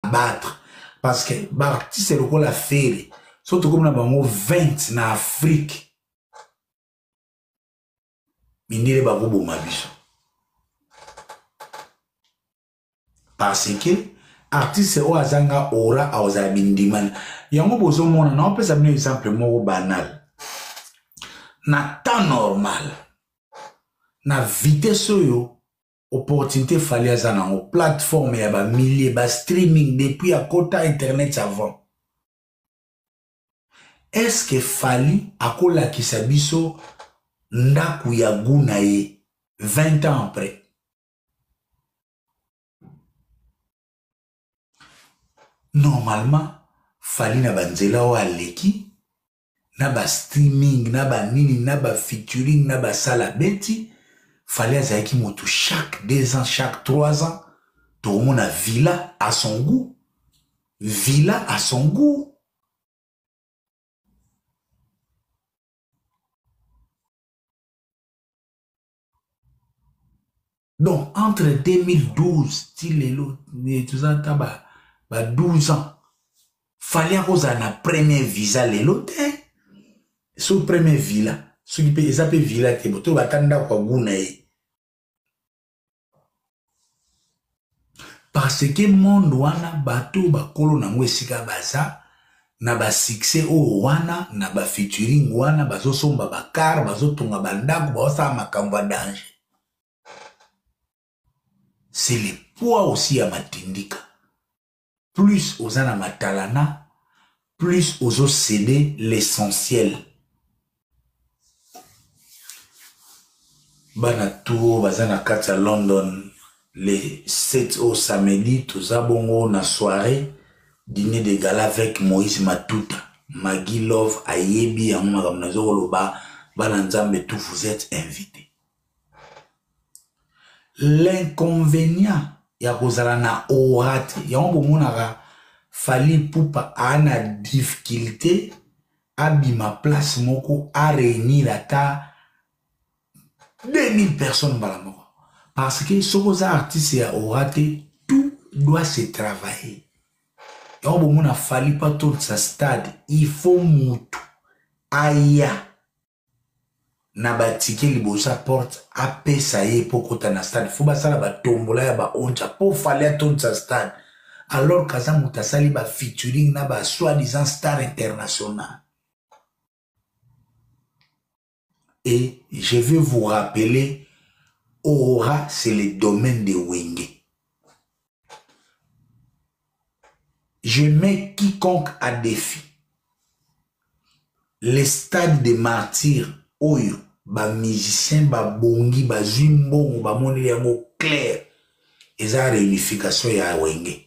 abattre parce que baartiste lokola fere so tokomi na bango 20 na afrique mindele bakoboma biso parce que artiste oyo azanga ora akozala bindimana yango bozomona naopesa bino exemple moko banal na temps normal na vitese oyo opportunité fali aza nango plateforme ya ba milliers ba streaming depuis akota internet avant est ce que fali akolakisa biso ndako ya gu na ye 20 ans après normalement fali na banzela oyo aleki na ba streaming na ba nini na ba featuring na ba sala beti fali azalaki moto chaque deux ans chaque trois ans tokomona villa à son goût villa à son goût donc entre 2012 ti lelo toza ata ba, ba 12 ans fali akozala na premier visa lelo te so premier villa soki mpe eza mpe villa te botoyo bata ndako ya guna ye parce que monde wana bato oyo bakolo nango esika baza na basuccès oyo wana na bafeaturing wana bazosomba bakar bazotonga bandako baosala makambo ya danger c'est le poids aussi ya matindika plus oza na matalana plus ozo cede l'essentiel bana tour baza na kati ya london le 7 au samedi toza bongo na soirée dîner de gala avec moïse matuta magi love ayebi yango makambo nazokoloba bana nzambe tout vous êtes invité l'inconvénient ya kozala na aura te yango bomonaka fali ipupa aa na difficulté abima place moko a réunir ata 2000 personnes mbala moko parce que soki oza artiste ya aura te tout doit se travailler yango bomona fali pa totisa stade il faut mutu aya na batike liboso ya porte apesa ye mpo kota na stade fo basala batombola ya baonja mpo fali atondisa stade alors kaza moto asali bafeaturing na ba soi disant star international et je vais vous rappeler ora c'est le domaine de wenge Je mets quiconque à défi. Les stades de martyrs, oyo, ba musiciens, ba bongi, ba zimbongo, ba moni yango clair. Eza réunification ya wenge.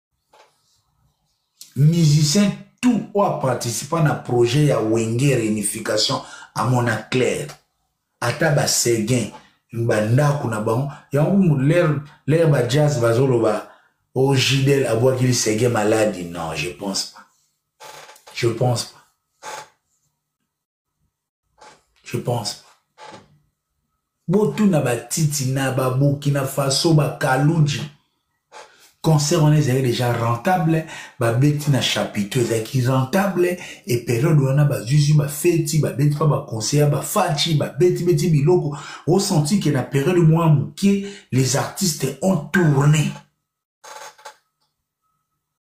musicien tout oyo aparticipa na projet ya wenge réunification amona claire ata baseguin bandako na bango yango lere bajazz bazoloba o oh, jidel abwaki lisege maladi non je pense pas je pense pas je pense pas botuna batiti na baburkina faso bakaluji concert wana ezalaki déjà rentable babeti na chapiteau ezalaki rentable e periode wana bazuzi bafeti babeti mpa baconseil ya bafaci babetibeti biloko osanti ke na periode mwa moke les artistes ont tourné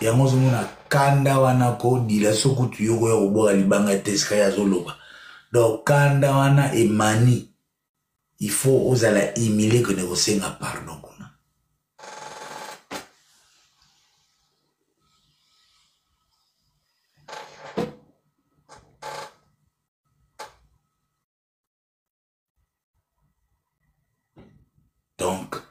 yango ozomona kanda wana kodila so kutu yo koya kobwaka libanga ya tesika ye azoloba donc kanda wana emani il faut ozala humile kende kosenga pardon kuna donc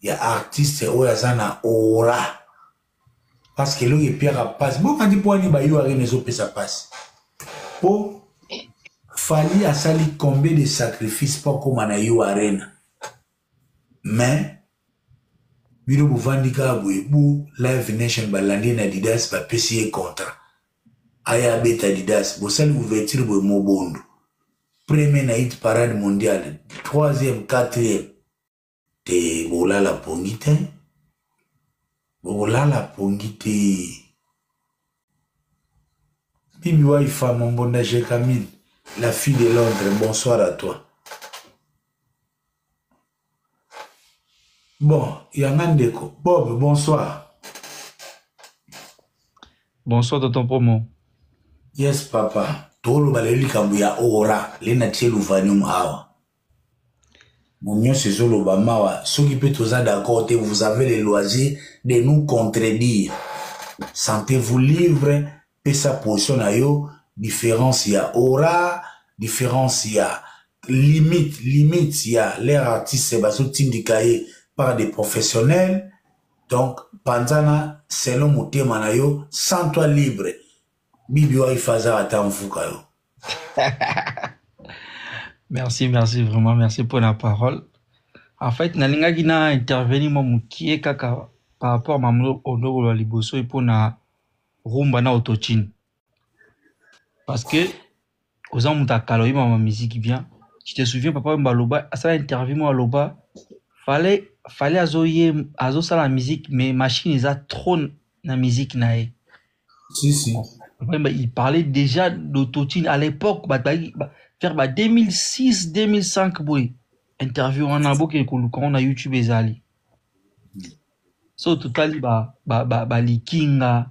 ya artiste oyo aza na ora parce que eloko epiaka mpasi bokandi mpo ani bayo arena ezopesa mpasi mpo fali asali combien de sacrifice mpo akóma na yo arena mais bino bovandi kaka boye bo live nation balandi ye na didas bapesi ye contrat aya abeta didas bosali ouverture boye mobondo premier na hit parade mondiale troisième quatrième te bolala pongi te bokolala pongi te bibi waifa mombonda jekamine la fille de londres bonsoir à toi bon yanga ndeko bob bonsoir bonsoir tonton promo yes papa toloba lelo likambo ya ora le natie luvanium awa Nionso ezoloba mawa soki pe toza d'accord te vous avez le loisir de nous contredire sentez vous livre pesa position na yo différence ya aura différence ya limite limite ya leur artiste bazotindika ye par des professionnels donc panzana selon motema na yo sans toi libre Bibi Wife aza ata mvuka yo. merci, merci vraiment, merci pour la parole. En fait, nalingaki na intervenir mwa mokie kaka par rapport ma mlo odoko la liboso mpo na rumba na autotune. Parce que oza moto ya kala oyeba ma musique bien tu te souviens papa wemba aloba asala interview moko aloba fale fale azoye azosala musique mais machine eza trop na musique na ye si si papa wemba il parlait déjà d'autotune à l'époque bato bazalaki ba- vers ba 2006 2005 boye interview wana boke koluka yango na youtube ezali so totali ba ba ba ba likinga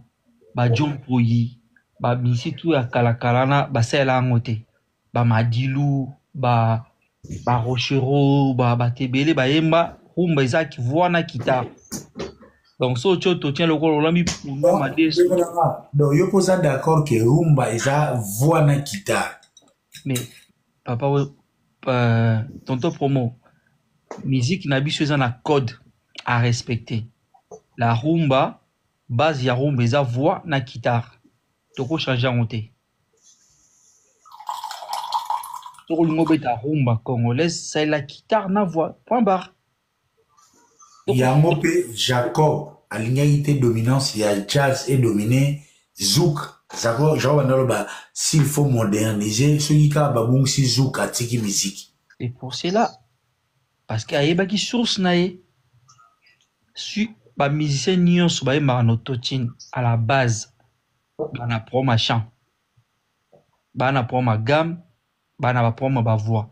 ba jompoyi ba misitu ya kala kala na basalela yango te ba madilu ba ba rochereau ba bato ebele bayemba rumba eza voix na kita donc so otyo totien lokola olami punda madesu donc yo mpo oza d'accord ke rumba eza voix na kita mais papa euh, tonto promo musique na biso eza na code à respecter la rumba base ya rumba eza voix na guitare tokochange yango te soki olingi obeta rumba congolaise salela guitare na voix point barre yango pe jacob alingaki te dominance ya jazz et domine zouk jacob jacob anda loba s'il faut moderniser soki kaka babungisi zouk atiki musique C'est pour cela. Parce que ayebaki source na ye. Su ba musiciens nyonso bayembaka na autotune à la base bana pro machin bana pro ma gamme bana ba pro ma ba voix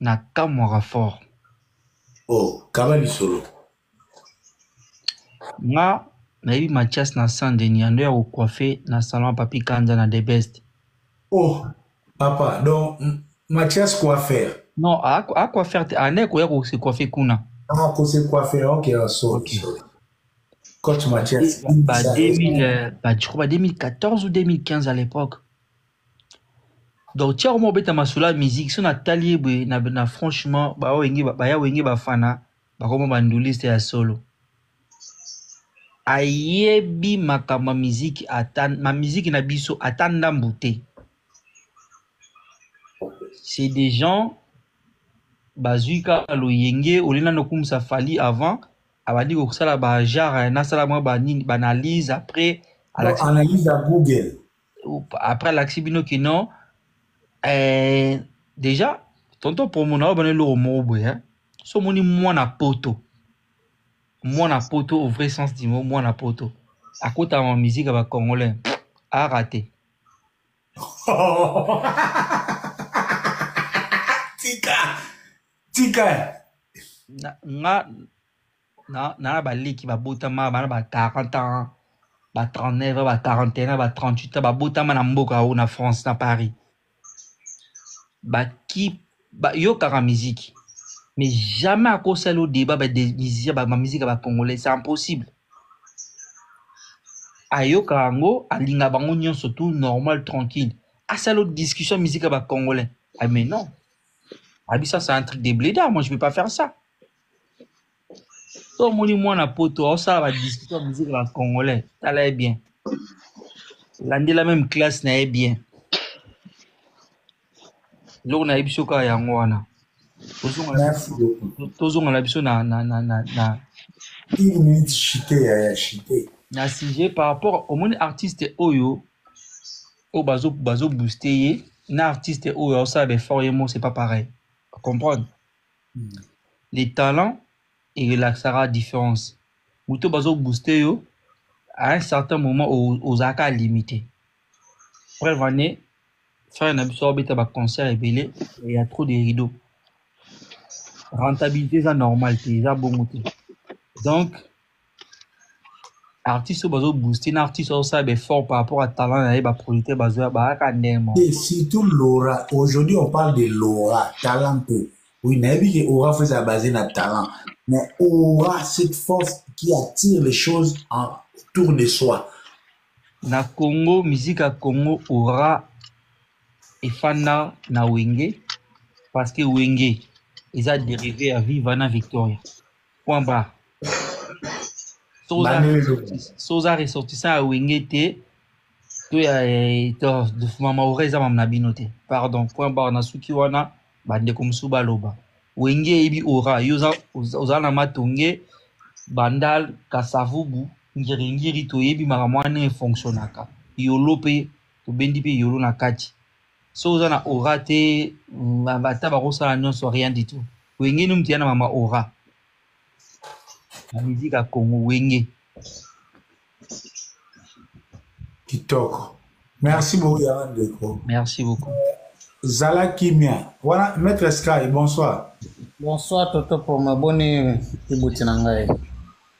Na kamwaka fort. Oh kaba lisolo. Nga nayebi Mathias na Saint Denis ando ya ko coiffer na salon ya Papy Kanza na the best. Oh papa donc Mathias coiffer. Non a a coiffer te anda koya ko se coiffer kuna. Ah ko se coiffer ok ah, sorry okay. sorry. Coach Mathias. Ba 2000 ba je crois ba 2014 ou 2015 à l'époque. donc tiako moko beta masolo ya musique so natali ye boye na, na franchement bawenge baya wenge bafana bakoma banduliste ya solo ayebi makambo ya miziki ata ma miziki na biso ata ndambu te c'est des gens bazwi kaka loyenge olie nano okumisa fali avant abandi kosala bajare nasala mwa banini baanalyse après Non, alakisa analyse ya Google. après alakisi bino kino eh, déjà tonton promo na oyo bana eloko moko boye hein? so omoni mwana poto mwana poto au vrai sens du mot mwana poto akotaka ma musique ya bacongolais arate tika tika nga na na ba leki ba botama ba na ba 40 ans ba 39 ba 41 ba 38 ans ba botama na mboka o na France na Paris ba ki ba yokaka musique mais jamais akosala au débat ba des musiciens ba musique ba congolais c'est impossible ayoka yango alinga bango nyonso tout normal tranquille asala discussion musique ba congolais ah mais non abisa c'est un truc de blédard moi je peux pas faire ça to omoni mwana poto aosala badiscussion ya musique na congolais tala ye bien landela meme classe na ye bien eloko nayebi biso kaka yango wana tozonga na biso na na na na na une minute chite ya ya chite na sujet par rapport omoni artiste oyo oyo bazo bazo booster ye na artiste oyo aosala ba effort ye mo c'est pas pareil comprendre les talents et relaxera différence moto bazo booster yo à un certain moment ozalaka limité preuve en est frère na biso abeta ba concert ebele il y a trop de rideaux rentabilité eza normal te eza bongo te donc artiste oyo bazo booster na artiste oyo asala b'effort par rapport à talent na ye ba producteur bazo ya bayaka ndenge moko Et surtout Laura, aujourd'hui on parle de Laura, talent peu. Oui, nayebi que Aura faut ezala basé na talent. Mais Aura, cette force qui attire les choses en autour de soi. na congo musique ya congo aura efanda na wenge parce que wenge eza dérivé ya viva na victoria point barre so oza ressortissant ya wenge te to ya eh, mama ora eza mama na bino te pardon point barre na suki wana bandeko mosusu baloba wenge eyebi ora yo oza na matonge bandal kasavubu ngiringiri toyebi makambo wana efonctionnaka yolo mpe tobendi mpe yolo na kati so oza na aura te ata bakosala nyonso rien du tout wenge ni moto ya na mama aura na miziki ya congo wenge kitoko merci beaucoup ya ndeko merci beaucoup zala kimia wana maître sky bonsoir bonsoir toto poma boni ibuti na ngai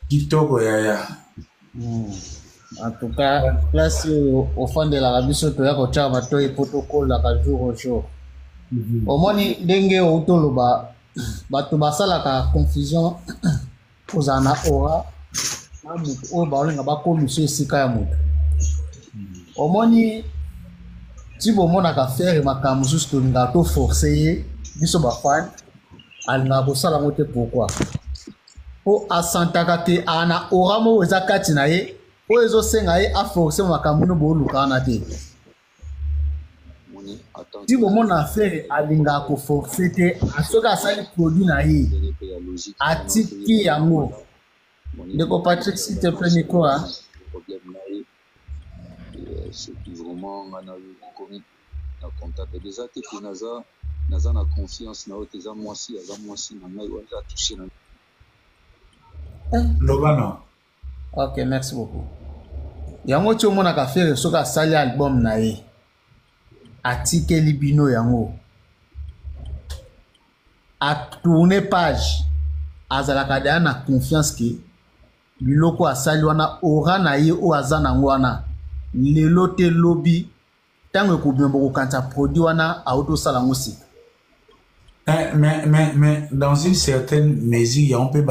kitoko yaya hmm. en tout cas place oyo ofandelaka biso toya kotyaka matoi mpo tokolaka jour au jour mhm. omoni ndenge outi oloba bato basalaka confusion kozala na ora na moto oyo baolinga bakomisa esika ya moto mhm. omoni ti bomonaka fere makambo mosusu tolingaka toforce ye biso bafani alingaka kosala yango te pourkui mpo asantaka te aa na ora moko eza kati na ye oyo ezosenga ye aforce makambo no boolukaka na te ti bomona fere alingaka koforce te soki asali produit na ye atiki yango ndeko patrick site mpe mikoa na comptabilise te que naza naza na confiance na yo te eza mwasi aza mwasi na ngai wana eza touche na eh. loba na ok merci beaucoup yango ti omonaka fere soki asali album na ye atikeli bino yango atourne page azalaka deya na confiance ke biloko asali wana ora na ye oyo aza nango wana lelo te lobi ntango ekobima bokokanisa produit wana auti osala yango sika eh, mais, mais, mais dans une certaine mesure yango mpe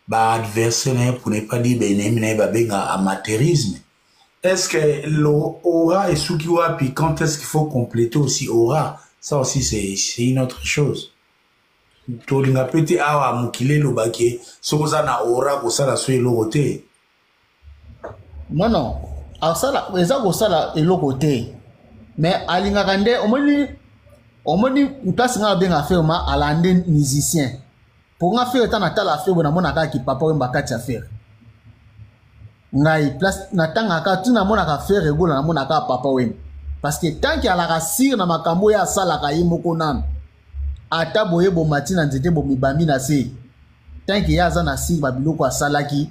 baadversaire na ye pour ne pas dire baenemi na ye babenga amateurisme est ce que lo aura esuki wapi quand est ce qu'il faut compléter aussi aura ça aussi c'est une autre chose tolinga mpe te awa mokili elobaki soki oza na aura kosala so eloko te non non asala eza kosala eloko te mais alingaka nde omoni omoni place ngai abenga fere ma alande musicien mpo nga fere ntango natala fere boye namonaka kipapa oyo mbakati ya fere ngai place natangaka ti namonaka fere egola namonaka papa wemba parce que tanke alaka sire na makambo oyo asalaka ye moko nano ata boye bomati na nzete bomibambi na se tanke ye aza na sire babiloko asalaki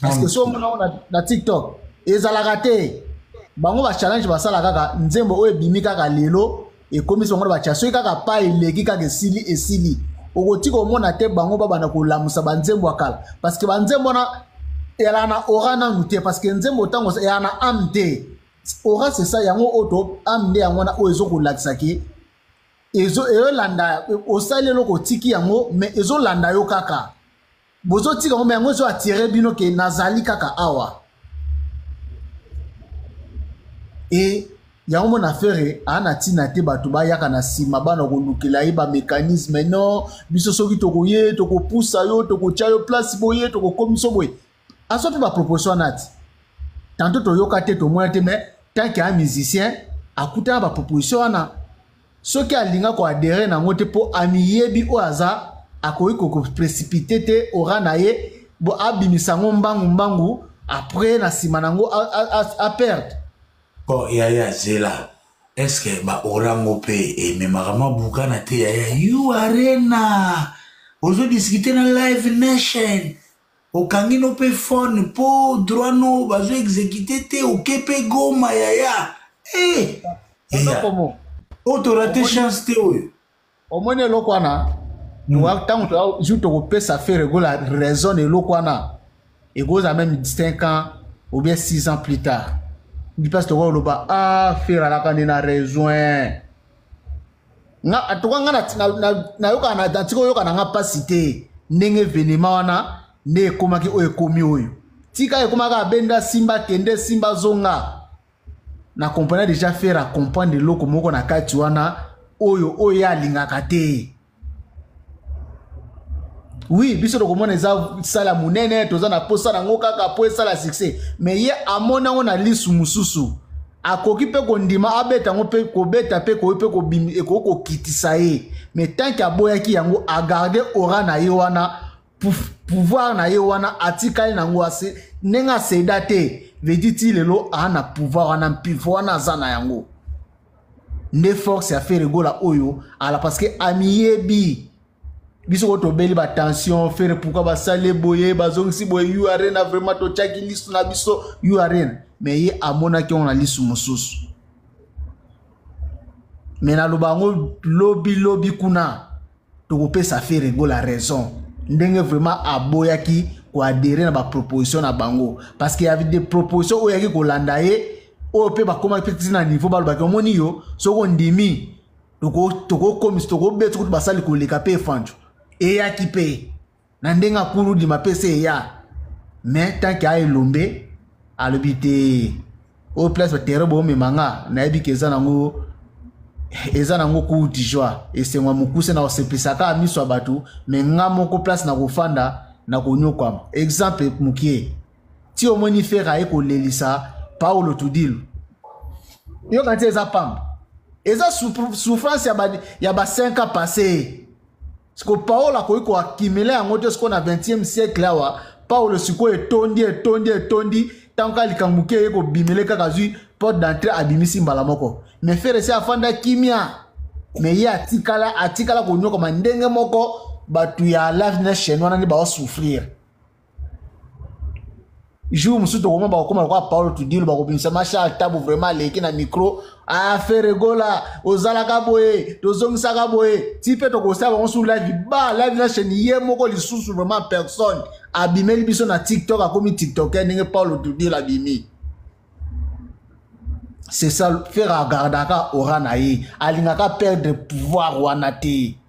parce que so omona ngo na tiktok ezalaka te bango bachallenge basala kaka nzembo oyo ebimi kaka lelo ekomisi bango na batya soki kaka pa eleki kaka esili esili okoki komona te bango babanda kolamusa banzembo ya kala parce que banzembo wana eyalaka na ora nanu te parce que nzembo ntango eyalaka na ame te ora sesa yango oyo to ame nde yango wana oyo ezokolakisa ke ezolanda osali eloko otiki yango mais ezolanda yo kaka bozotika ngo me yango ezo atire bino ke nazali kaka awa e yango mona fere aa na ntina te bato bayaka na nsima bana kolukela ye bamekanisme no biso soki tokoye tokopusa yo tokotya yo place boye tokokomisa boye azwa mpe baproposition wana ti tanto toyoka te tomona te mais tanke ya musicien akutana baproposition wana soki alinga ko adere na yango te mpo amiyebi oyo aza akoki kokoprecipice te ora na ye bo abimisa yango mbangu mbangu après na nsima na yango aperde bon yaya zela eske baora yango mpe ememaka mwa bukana te yaya yo arena ozodiskite na live nation Okangi no pe phone po droit no bazo execute te oke pe goma yaya. Eh! Yaya. Oyo oh, to rate chance te oyo. Omoni eloko wana? ntango hmm. jour tokopesa fere egola raison na eloko wana ekozala meme 5 ans ou bien 6 ans plus tard ndi mpasi tokoloba a ah, fere alaka nde na raison eh. nga atoka nga nayokaka na natika oyoka na nga mpasi te ndenge evenema wana nde ekomaki oyo ekomi oyo tika ekomaka abenda simba kende simba zonga na comprena deja faire acomprendre eloko moko na kati wana oyo oyo ye alingaka te oui biso tokomona eza sala monene toza na mposa nango kaka mpo esala succès me ye amoni yango na lisu mosusu akoki mpe kondima abeta yango mpe kobeta mpe koyi mpe ekoki kokitisa ye me tanke aboyaki yango agarde ora na ye wana pouvoir na ye wana atikali nango ase ndenge aseda te vediti lelo aa na pouvoir wana mpivo wana aza na yango nde force ya fere gola oyo ala parce que amiyebi biso ko tobeli batension fere pourkui basali boye bazongisi boye u arena vraiment totyaki lisu na biso u arena me ye amonaki yango na lisu mosusu me naloba yango lobilobi kuna tokopesa Ferre Gola raison ndenge vraiment aboyaki koadere na baproposition na bango parce que avec des propositions oyo yaki kolanda ye oyo mpe bakomaki mpe na niveau balobaki omoni yo soki ondimi tokokomisa tokobeta kutu basali koleka mpe efanjo eyaki mpe na ndenge akuludi mapesa eya mais tant ke aelombe alobi te oyo place batere boomema nga nayebi ke eza nango eza nango kuti joie esengo ya mokuse na koseplisaka miso ya bato me nga moko place na kofanda na konyokwama exemple mokie ti omoni fere aye kolelisa paulo tudilu yoka nti eza pamba eza souffrance ya ba 5 ans passé siko paolo akoki koakimile yango te sikoyo na 20e siècle awa paolo sikoyo etondi etondi etondi ntango kaka likambo moke eye kobimele kaka azwi porte d'entrée abimisi mbala moko me fere se afanda kimia me ye atikala atikala konyokama ndenge moko bato ya lavne chaine wana nde baosouffrir jour mosusu tokoma bakokoma lokola paolo tudilo bakobimisa mashal tabu vraiment aleki na micro afere ah, gola ozalaka boye tozongisaka boye ti mpe tokosala bango sur live ba live na chaîne ye moko lisusu vraiment personne abimeli biso na tiktok akomi tiktoker ndenge paolo tudilo abimi c'est ça fere agardaka ora na ye alingaka perdre pouvoir wana te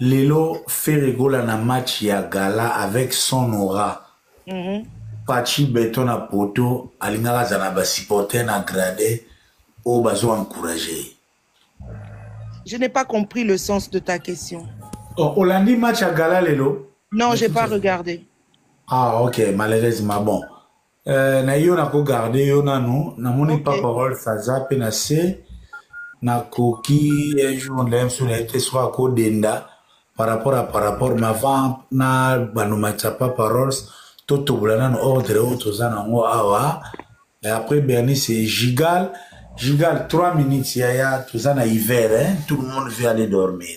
Lelo Ferre Gola na match ya gala avec son aura. Mm -hmm. Pachi beton na poto alingaka azala na ba supporter na grade oyo bazo encourager ye. Je n'ai pas compris le sens de ta question. Oh, Olandi match à Gala Lelo Non, j'ai pas regardé. Ah, ok, malheureusement, bon. Euh, na yo nako garde yo nanu namoni okay. pa parole faza mpe na se nakoki un jour ndaya mosusu na ye te soki akodenda par rapport à par rapport mais avant na banomatisa pa paroles totobola nanu ordre oyo toza nango awa et après berni c'est gigal gigal 3 minutes yaya toza na hiver hein? tout le monde veut aller dormir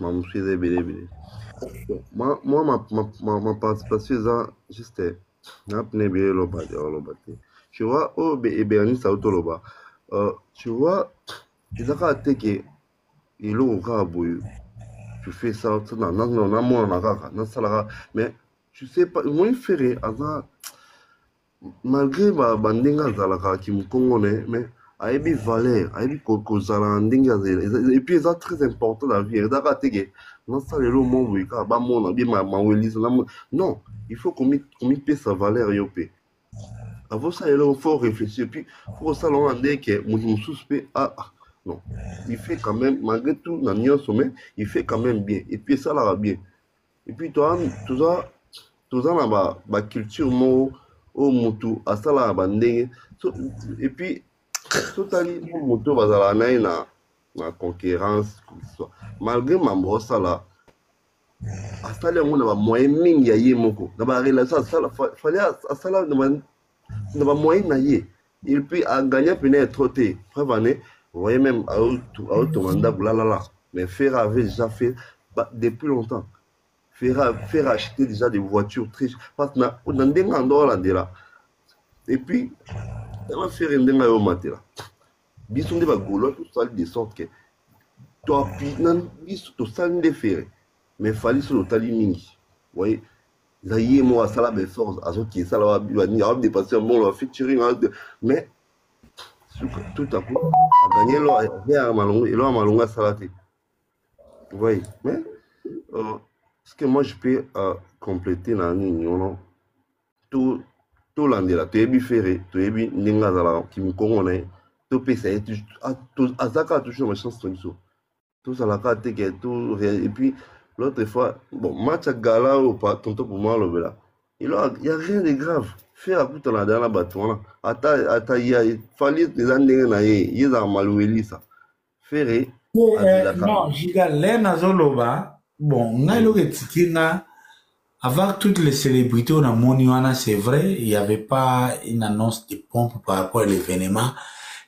mamosusu eza ebele ebele mwa maparticipation eza juste na pene ebele eloba te oloba te tu vois oyo ebernisa auto oloba euh, tu vois eza kaka te ke eloko kaka boye tu fais ça namonana kaka nasalaka mais tu sais pas omoni fere aza malgré ba ndenge azalaka kimukongo ne mais ayebi valeur ayebi kozala na ndenge epuis eza très important na vie eza kaka teke nasala elo mo boye kaka bamona bie mawelisa non il faut komipesa valeur yo mpe avosala elo faut réfléchir puis faut kosala wana nde ke moto mosusu mpe ah, ah non il fait quand même malgré tout na nyonso mais il fait quand même bien epuis esalaka bien et puis toi toza toza na ba ba culture moko oyo mutu asalaka ba ndenge so, et puis totali moto bazalaka na ye na na concurrence malgré mambo osala asali yango na bamoyen mingi ya ye moko na barelation asala fali asala na ba moyen na ye et puis agagna pena ya trop te preuve année voyez même aotonga ndako lalala mais ferre avait déjà fait depuis longtemps ferre ferre acheté déjà des voitures très parce que na na ndenge ya ndo olandela et puis tala ferre ndenge ayo matela biso nde bagolois tosali de sorte que toapui na biso tosali nde ferre mais fali solo otali mingi voyez eza ye moko asala baefforts azoki esala wabibanini awa dépense mbongo ya featuring mais tout à coup aganye eloko malongo eloko ya malongo asala te voyez mais euh, ce que moi je peux euh, compléter na nini ono tolandela toyebi fere toyebi ndenge azalaka kimikongo na ye topesa ye aza kaka toujours na chance na biso tozalaka te ke to et puis l'autre fois bon match ya gala oyo tonto poma alobela elo ya rien de grave fer akutana da na bato wana ata ata ya fali eza ndenge na ye ye ezaka maluelisa fere eh, non giga le nazoloba bon ngai eloko etiki nga Avoir toutes les célébrités on a moni wana c'est vrai, il y avait pas une annonce de pompe par rapport à l'événement,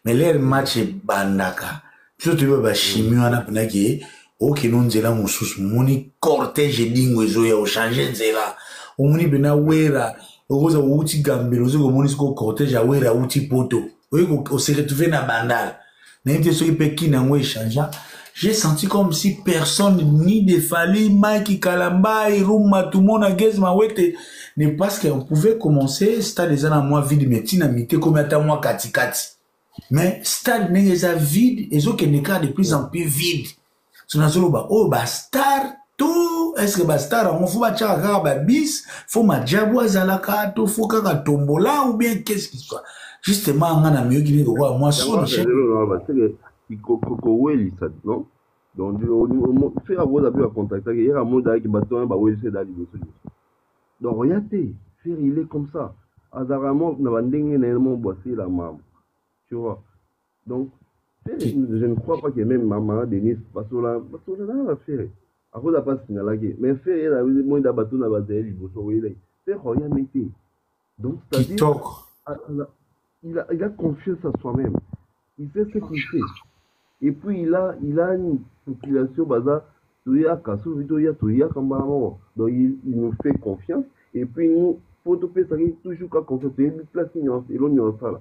mais leur match bandaka. Toujours tu ba chimie wana pena que ok non nzela mususu moni cortège dingo ezo ya changer nzela. Omoni bena wera okoza outi gambelo ozo komoni siko cortège ya wera outi poto. Oye ko se retrouver na bandal. nayebi te soki mpe kina yango echangea j'ai senti comme si personne ni de fali mike kalambai ruma tumona gez mawete ne parce que on pouvait commencer stade eza na mwa vide mais ntina mite komi ata mwa katikati mais stade ndenge eza vide ezokende kaka de plus en plus vide so nazoloba oyo oh, bastar to eske bastar yango fo batyaka kaka babis fo majabu azalaka to fo kaka tombola ou bien qu'est-ce qui soit justement nga na miyoki nini kokoa mwa sonokowelisa non donc fera akoza mpe bacontactaki yeka amodaki bato wana bawelisa eda liboso liboso donc oya te fera il est comme ça azalaka na bandenge na ye mo bwasela mambo tu vois donc ferre je ne crois pas que même mama denise basola basola na na ferre akoza pa signalaki mais ferre ye na moi da bato na bazali liboso oyelaki ferre oyami te donc c'est-à-dire il a, il a confiance à soi-même il sait ce qu'il fait et puis il a il a une population baza toyaka soki toya toyaka mbala moko donc il, il nous fait confiance et puis nous mpo topesaki toujours ka confiance toyebi place nyonso elo nyonso asala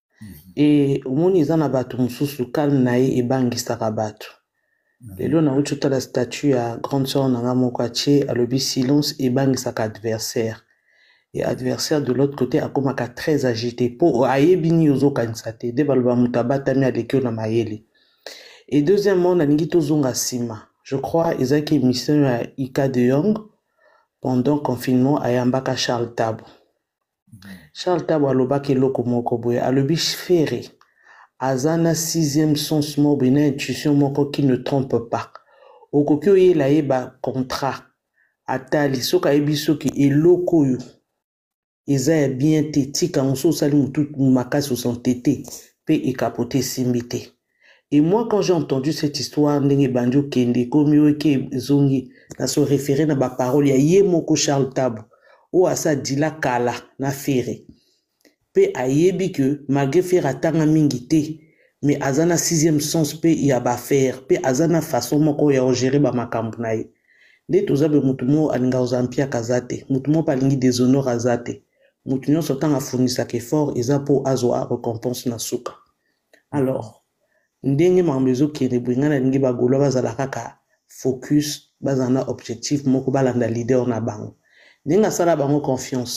e omoni eza na bato mosusu calme na ye ebangisaka bato mhm. lelo nauti otala statut ya grande sœur na nga moko atie alobi silence ebangisaka adversaire ya adversaire de l'autre côté akomaka très agité mpo ayebi nini ozokanisa te nde baloba moto abatami aleki yo na mayele e deuxièmement nalingi tozonga nsima je crois ezalaki émission ya ika de yong pendant confinement ayambaka charles tabo Charles Tabu alobaki eloko moko boye alobi Ferre aza na sixième sens moko boye na intuition moko qui ne trompe pas okoki oyela ye ba contrat atali soki ayebi soki eloko oyo eza ya bien te tika yango soki osali motu makasi osante te mpe ekapote esimbi te Et moi, quand j'ai entendu cette histoire, ndenge bandi okende, ekomi oke ezongi, na se référer na ba paroles ya ye moko Charles Tabu, oyo asa dila kala na Ferre. Pe ayebi que malgré Ferre atanga mingi te, mais aza na sixième sens pe ya ba affaires, pe aza na façon moko ya ko gérer ba makambo na ye. Nde toza boye mutu moko alinga kozala mpiaka aza te, mutu moko pe alingi deshonore aza te. Mutu nionso tango afournisaka effort eza po azwa recompense na suka. alors ndenge makambo ezokende boye ngai nalingi bagolois bazala kaka focus bazala na objectif moko balanda leader na bango ndenge asala bango confiance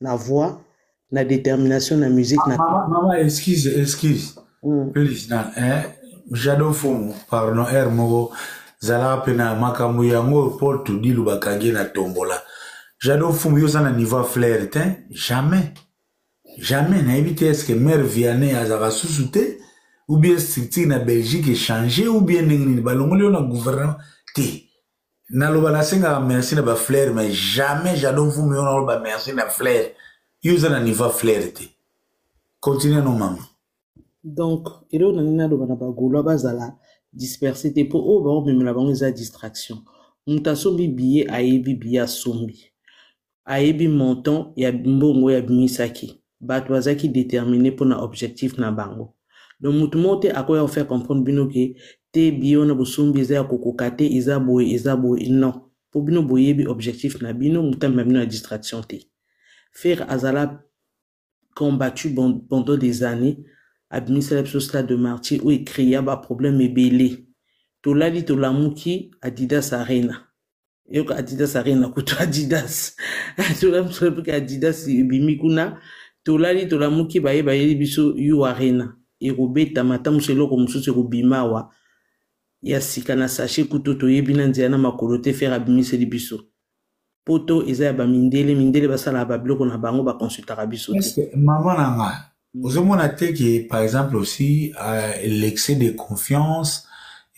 na voix na détermination na musique na mama, mama excuse excuse mm. please na eh, jado fumu pardon r moko zala mpe na makambo yango mpo todilu bakangi na tombola jado fumu yo oza na niveau ya flaire te jamais Jamais nayebi te eske mère Vianney azaka susu te ou bien structure na Belgique echange ou bien ndenge nini balongoli yo na gouvernement te naloba nasengaka merci na ba flaire mais jamais jadon vumi yo naloba merci na flaire yo oza na niveau flaire te continue no mama donc eloko na nini naloba na bagaulois bazala disperse te mpo oyo baomemela bango eza distraction moto asombi biye ayebi biye asombi ayebi montant ya mbongo oyo abimisaki bato bazalaki determine mpo na objectif na bango donc motu moko te akoya kofaire comprendre bino ke te biye wana bosombi eza ya kokoka te eza boye eza boye non mpo bino boyebi objectif na bino motambi na bino ya distraction te fere azala combattu pendant des années abimisela biso stade de martyr oyo ecrea baproblème ebele tolali tolamuki adidas arena yoka adidas arena kutu adidas tolamuki adidas ebimi kuna tolali tolamuki baye bayeli biso u arena ekobetama ata mosu eloko mosusu ekobima awa ya sika na sachet kutu toyebi na nzela na makolo te fere abimiseli biso poto eza ya bamindele mindele basalaka babiloko na bango bakonsultaka biso te mama na nga mm. ozomona te ke par exemple aussi euh, l'excès de confiance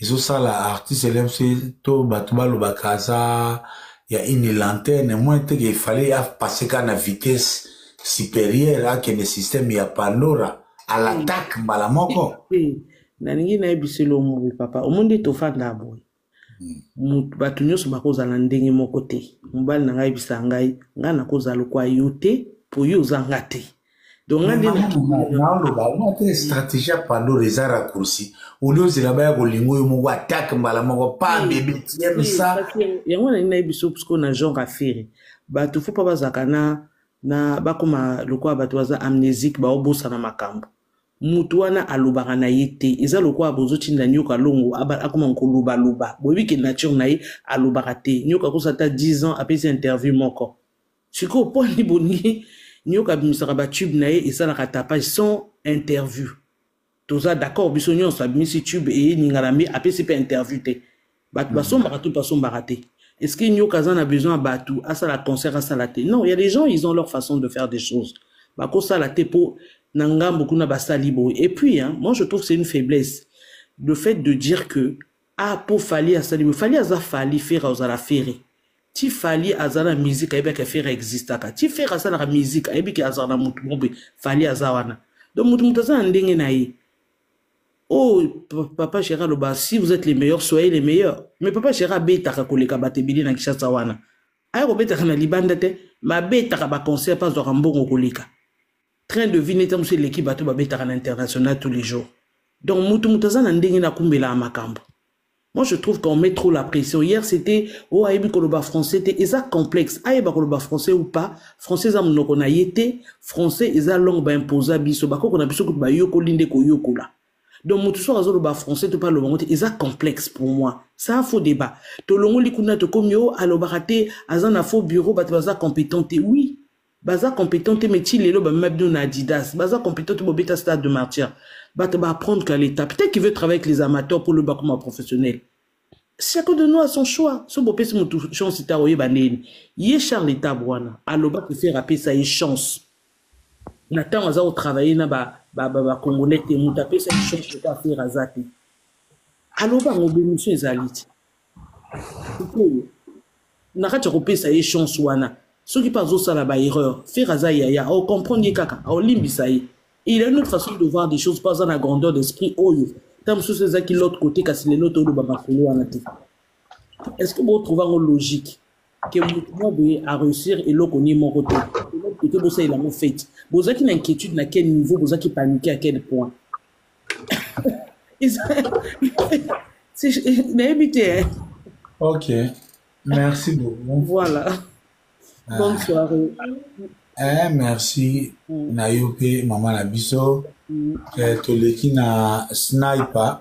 ezosala artiste lmc to bato balobaka aza ya une lanterne moins te ke efale apasse ka na vitesse supérieure akende système ya pandora à l'attaque mbala moko nalingi nayebisa elongo papa omoni nde tofanda boye hmm. bato nyonso bakozala ndenge moko te mobali na ngai yebisa ngai ngai nakozala lokwa yo te mpo yo oza nga te dongandenaolobate stratégie ya pandolo eza raccourci oli ozela baya kolinga oyo moko atake mbala moko pa bebe tiemsa yango nalingi nayebi biso psiko na genre afere bato fo mpa bazalaka na na bakoma lokola bato baza amnésique baobosana makambo mutu wana alobaka na ye te eza lokola bozotinda nyoka longo akoma kolobaloba boyebi ke nature na ye alobaka te nyoka akosa ata 10 ans apesi interview moko sikoyo mpo ani bolingi nyoka abimisaka batube na ye esalaka tapage sans interview toza d'accord biso nyonso abimisi tube eye ningalambi apesi mpe interview te bato hmm. basombaka to basombaka te est ce que nyoka aza na besoin ya bato asala concert asala te non ya des gens ils ont leur façon de faire des choses bakosala te mpo na ngambo kuna basali boye et puis hein, moi je trouve c'est une faiblesse le fait de dire que ah mpo fali asali boye fali aza fali fere ozala fere ti fali aza na musike ayebi ake fere existaka ti fere asalaka musike ayebi ke azala na motu mobe fali aza wana donc motu motu aza na ndenge na ye Oh, papa Gérard Loba, si vous êtes les meilleurs, soyez les meilleurs. Mais papa Gérard betaka koleka batebele na Kinshasa wana. Aya kobetaka na libanda te, ma betaka ba concert pas zwa mbongo koleka. Train de vie neta musu eleki bato babetaka na international tous les jours. Donc mutu mutu aza na ndenge na kumbela makambo. Moi, je trouve qu'on met trop la pression. Hier, c'était oh ayebi koloba français te eza complexe. Ayeba koloba français ou pas, français eza monoko na ye te, français eza langue ba imposa biso, bakoko na biso kutu bayokoli nde koyokola. Donc moto soki azoloba français to mpe aloba yango te eza complexe pour moi. C'est un faux débat. Tolongoli kuna tokomi oh alobaka te, aza na faux bureau, bato baza competent te. Oui, baza competent te mais ti lelo bamema bino na adidas baza competent te bobeta stade de martyr bato ba apprendre qu'à l'état peut-être qu'il veut travailler avec les amateurs pour loba koma professionnel chacun de nous a son choix so bopesi motu chance ta oyeba ndeni ye charles etab wana aloba prefere apesa ye chance na ntango aza kotravaille na bacongolais ba, ba, ba te moto apesa ye chance lokola afere aza te aloba yango bemission ezali te sikoyo na kati ya kopesa ye chance wana soki mpe azosala baerreur fere aza yaya aocomprendre ye kaka aolimbisa ye il a une autre façon de voir des choses mpo aza na grandeur d'esprit oyo ta mosusu ezaki l'autre côté kasi lelo toyoloba masolo wana te est ce que botrouve yango logique que moto moko boye a réussir eloko nie moko te oke bosalela yango fete bozalaki na inquiétude na quel niveau bozalaki panique à quel point nayebi te eh. ok merci beaucoup voilà ah. bonne soirée eh, merci mm. na yo mpe mama na biso mm. eh, toleki na sniper